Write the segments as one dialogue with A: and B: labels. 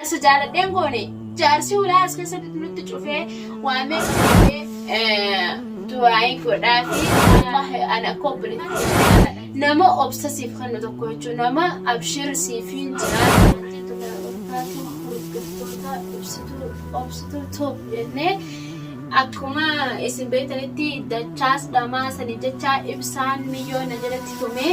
A: Jaarsa jaaladheen goone jaarsi ulaa as keessatti nutti cufee waamee du'aayi godhaafi wallahi ana akka obboleetti nama obsa siif kennu tokko jechuun nama abshir siif hin jiraatu jennee akkuma isin beektanitti dachaas dhamaa sanii jechaa ibsaan miyyoo na jalatti tumee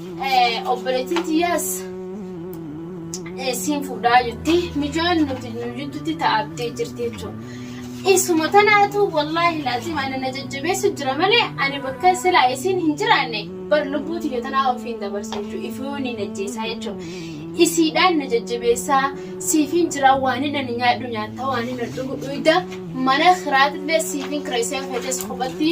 A: Obboleettiin tiyyaas siin fuudhaa jetti. Mijoon nuti nu jidduutti taa'abdee jirti jechuudha. Isuma tanaatu wallaahi laaziim ana na jajjabeessu jira malee ani bakka silaa isiin hin jiraanne bar lubbuu tiyya tanaa ofiin dabarsa jechuudha. Ifuun hin ajjeesaa jechuudha. Isiidhaan na jajjabeessaa siifin jiraa waan hin ani nyaadhu nyaattaa waan hin dhugu dhuyda mana kiraatillee siifin kireessee feetes kophatti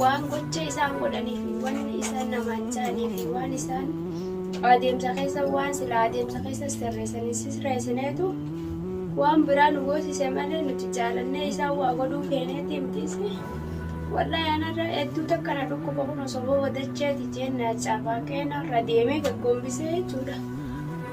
A: waan gocha isaan godhanii fi wanni isaan namaan jaanii fi waan isaan adeemsa keessa waan sila adeemsa keessa sirreessanii sisreessineetu waan biraa nu goosise malee nuti jaalannee isaan waa godhuu feeneeti mitiisi. Wallahi anarra hedduu takka na dhukkuba kun osoo booda dacheeti jeen na cafaaqee narra deemee gaggombisee jechuudha.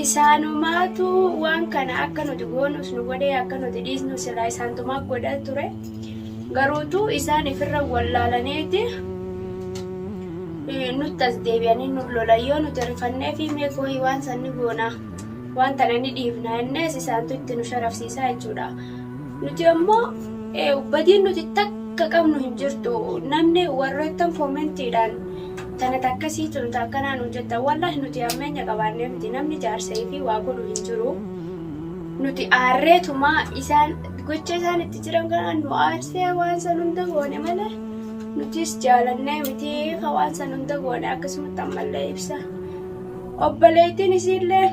A: Isaanumaatu waan kana akka nuti goonus nu godhee akka nuti dhiisnu silaa isaantumaa godha ture. Garuutu isaan ifirra wallaalaniiti nutti as deebi'anii nu lola. Yoo nuti rifannee fi mee kooyi waan san ni goona waan tana ni dhiifna innis isaantu itti nu sharafsiisaa jechuudha. Nuti ammoo badiin nuti takka qabnu hin jirtu. Namni warroottan koomentiidhaan Tana takkasii tun ta akkanaa nuun jettan wallahi nuti hammeenya qabaannee miti namni jaarsa ifii waa godhu hin jiru nuti aarreetuma isaan gocha isaan itti jiran kanaan nu aarsee waan san hunda goone malee nutis jaalannee miti ka waan san hunda goone akkasumatti ammallee ibsa obboleettiin isiillee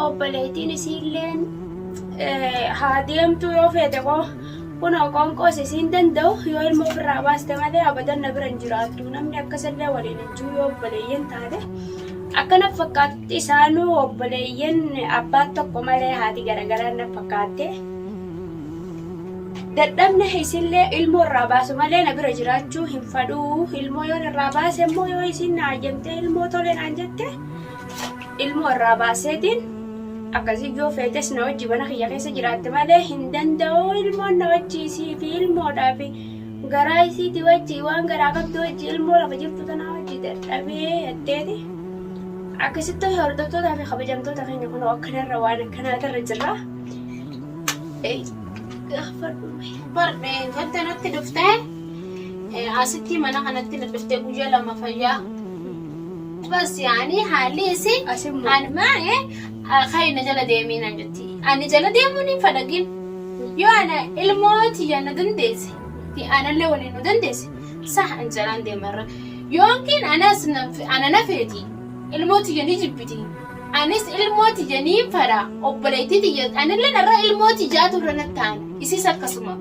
A: obboleettiin isiilleen eh, haa deemtuu yoo feete koo Kunoo qoonqoos isiin danda'u, yoo ilma ofirraa baaste malee abadan na bira hin jiraattu. Namni akkas illee waliin hin jiru yoo obboleeyyan taate. Akka na fakkaatutti isaanuu obboleeyyan abbaan tokko malee haati garagaraan na fakkaatte. Dadhabna isillee ilmoo irraa baasu malee na bira jiraachuu hin fadhuu. Ilmoo yoon irraa baase immoo yoo isiin na hayyamtee ilmoo tole naan jette ilmoo irraa baaseetiin akkasii yoo feetes na wajji mana kiyya keessa jiraatte malee hin danda'u ilmoon na wajji isii fi ilmoodhaa fi garaa isiiti wajji waan garaa qabdu wajji ilmoo lafa jirtu tanaa wajji dadhabee jetteeti. Akkasitti hordoftootaa fi kabajamtoota keenya kunoo akkanarra waan akkanaatarra jirra. Eh, gaafadhu mee. Bar eh, wanta natti dhuftee eh, asitti mana kanatti na dhuftee guyyaa lama fayyaa. Bas yaani haalli isi an maa'e kayi na jala deemii naan jetti. Ani jala deemuun hin fadhagin. Yoo ana ilmoo tiyya na dandeesse fi anallee waliin nu dandeesse sah an jalaan deemarra. Yookiin anas ana na feeti ilmoo tiyya ni jibbiti. Anis ilmoo tiyya niin fadha obboleettii tiyya anillee narra ilmoo tiyyaatu irra nattaan isis akkasuma.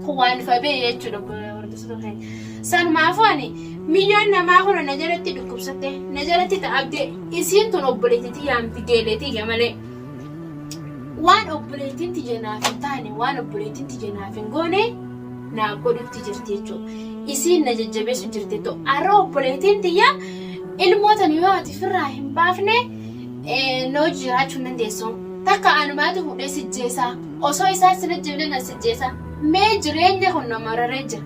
A: Kun waan ifa ba'e jechuudha obboleessota keenya. Sanumaafuu ani. Miyyoon namaa kura na jalatti dhukkubsatte, na jalatti ta'abde, isiin tun obboleettii tiyyaan fideelee tiyya malee. Waan obboleettiin tiyya naaf hin taane, waan obboleettiin tiyya naaf hin goone naaf godhutti jirti jechuudha. Isiin na jajjabeessu jirti too. Har'a obboleettiin tiyya ilmoo tana yoo ati firraa hin baafne na hojii jiraachuu hin dandeessu. Takka anumaatu fuudhee sijjeessaa. Osoo isaan sin ajjeefne na sijjeessaa. Mee jireenya kun na mararee jira.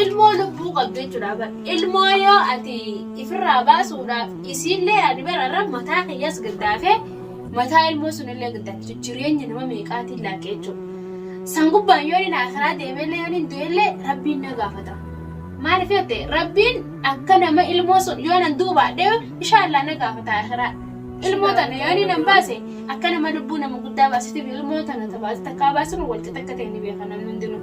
A: Ilmoo lubbuu qabdu jechuudha bar. Ilmoo yoo ati ifirraa baasuudhaaf isiillee ani bara irra mataa kiyyaas gaddaafee mataa ilmoo sunillee gaddaafte jireenya nama meeqaatiin laaqe jechuudha. San gubbaan yoo inni akiraa deemeellee yoo inni du'ellee rabbiin na gaafata. Maaliif yoo ta'e rabbiin akka nama ilmoo sun yoo nan duubaadhe inshaallah na gaafata akiraa. Ilmoo tana yoo inni nan baase akka nama lubbuu nama guddaa baasitiif ilmoo tana tabaasite takkaa baasuun walqixa akka ta'e ni beeka namni hundinuu.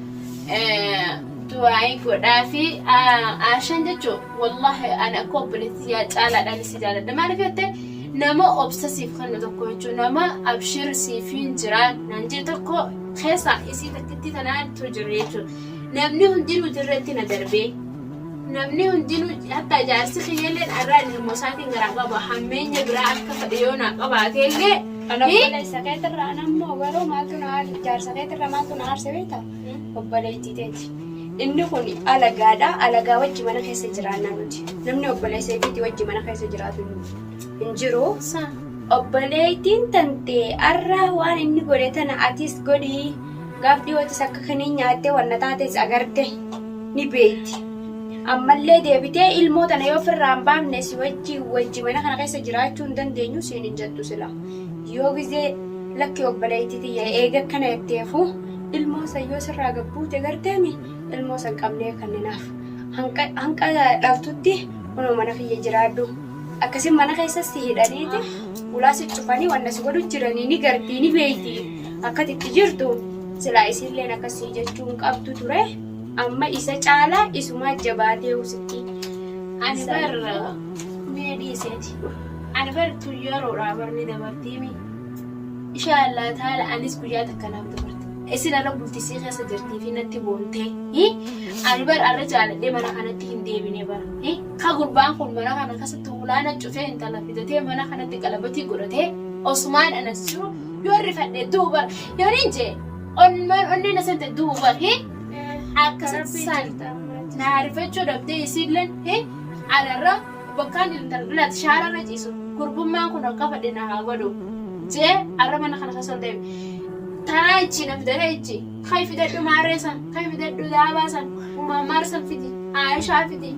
A: du'aa'ii godhaa fi aashan jechuun wallaahi ani akka obboleetti yaa caalaadhaan si jaalladha maaliif jette nama obsa siif kennu tokko jechuun nama abshir siif hin jiraan naan jee tokko keessa isii takkitti tanaatu jiru jechuun namni hundinuu jirretti na darbee namni hundinuu hatta jaarsi kiyyalleen arraa ilmoo isaatiin garaa qaba hammeenya biraa akka fedhe yoo naa qabaatee illee Kana obboleessa
B: keetirra an ammoo garuu maaltu na aarse jaarsa keetirra maaltu na aarse beekta obboleettii teeti. Inni kun alagaadha alagaa wajji mana keessa jiraanna nuti namni obboleessa keetii wajji mana keessa jiraatu hin jiru. Obboleettiin tantee arra waan inni godhe tana atis godhii. gaaf dhiyootis akka kiniin nyaattee wanna taates agarte ni beeyti. Ammallee deebitee ilmoo tana yoo firraa hin baafne si wajji wajji mana kana keessa jiraachuu hin dandeenyu siin hin jettu sila. Yoo gizee lakki obboleeyti tiyya eega akkana jetteefu ilmoo san yoo sirraa gad buute garteemi ilmoo san qabnee kanninaaf. Hanqa dhaltutti kunoo mana kiyya jiraadhu. Akkasi mana keessa si hidhaniiti ulaa si cufanii wanna si godhu jiranii ni gartii ni beeytii akka ati itti jirtu silaa isiilleen akkas sii jechuu hin qabdu ture amma isa caalaa isumaa jabaateehu sitti Ani bar
A: mee dhiiseeti ani bar tun yeroodhaa bar ni dabartiimi ishaa Allah taala anis guyyaa takka naaf dabarti isin arra bultisii keessa jirtii fi natti boontee hi ani bar arra jaaladhee mana kanatti hin deebine bar hi Ka gurbaan kun mana kana kasatti hulaana cufee intala fidatee mana kanatti qalabatii godhatee osumaan anas jiru yoon rifadhe du'u bar yoonin jee onmaan onneen asante du'u bar he akka saan naa rifachuu dhabdee isiilleen he anarra bakkaan intala dhalaati shaararra ciisu gurbummaan kun akka fadhe na haa godhu jee arra mana kana kasa ol deebi taraa ichi na fidatee ichi Kai fidadhu maarree san, kai fidadhu daabaa san, umammaar san fidi, Aayishaa fidi,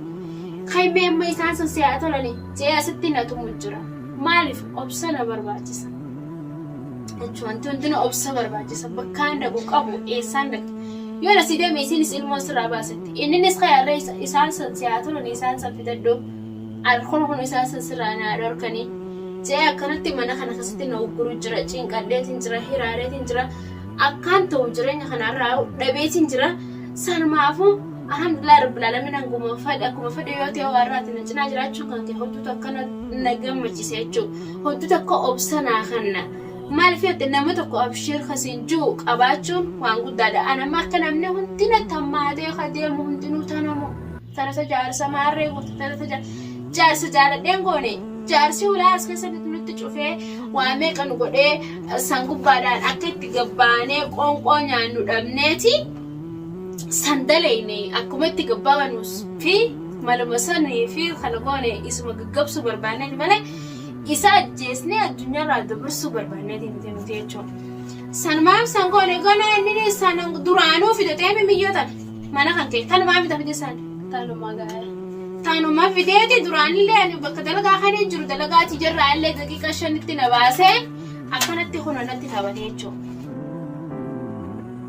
A: kai mee amma isaan sun si haa tolani jee asitti na tumu jira. Maaliif obsa na barbaachisa. Jechu wanti hundinuu obsa barbaachisa. Bakkaan dhaqu qabu eessaan dhaqxa. Yoo na si deeme isiinis ilmoo sirraa baasetti. Inninis kai harree isa- isaan san si haa tolani isaan san fidadhu. Ar kun kun isaan san sirraa na haa dhorkani. Jee akkanatti mana kana keessatti na ugguru jira. Cinqadheetiin jira, hiraareetiin jira. akkaan ta'u jireenya kanarraa dhabeetiin jira sanumaafuu alhamdulillah rabbil alamin anguma fedhe akkuma fedhe yoo ta'e warraati na cinaa jiraachuu kan kee hojjetu akkana na gammachiisa jechuu hojjetu akka obsa naa kanna maaliif jettee nama tokko abshiir kasiin jiru qabaachuun waan guddaadha anamma akka namni hundi na tammaatee ka deemu hundinuu tanamu Tarasa jaarsa maarree guutu tarasa jaarsa jaarsa jaaladheen goone jaarsi hulaa as keessa nutti nutti cufee waa meeqa nu godhee eh, san gubbaadhaan akka itti gabbaanee qoonqoo nyaannu dhabneeti san daleyne akkuma itti gabbaanuus fi maluma sanii fi kana goone isuma gaggabsuu barbaanneeti malee isa ajjeesnee addunyaarraa dabarsuu barbaanneeti miti nuti jechuudha. San maaf san goone goone inni san duraanuu fidatee mimiyyoo tana. Mana kan kee kanumaa mita fide saan
B: taanuma
A: gaara. Taanuma fideeti duraanillee ani bakka dalagaa kan hin jiru dalagaa tijarraa illee daqiiqa shanitti na baasee akkanatti kun natti taphate jechuudha.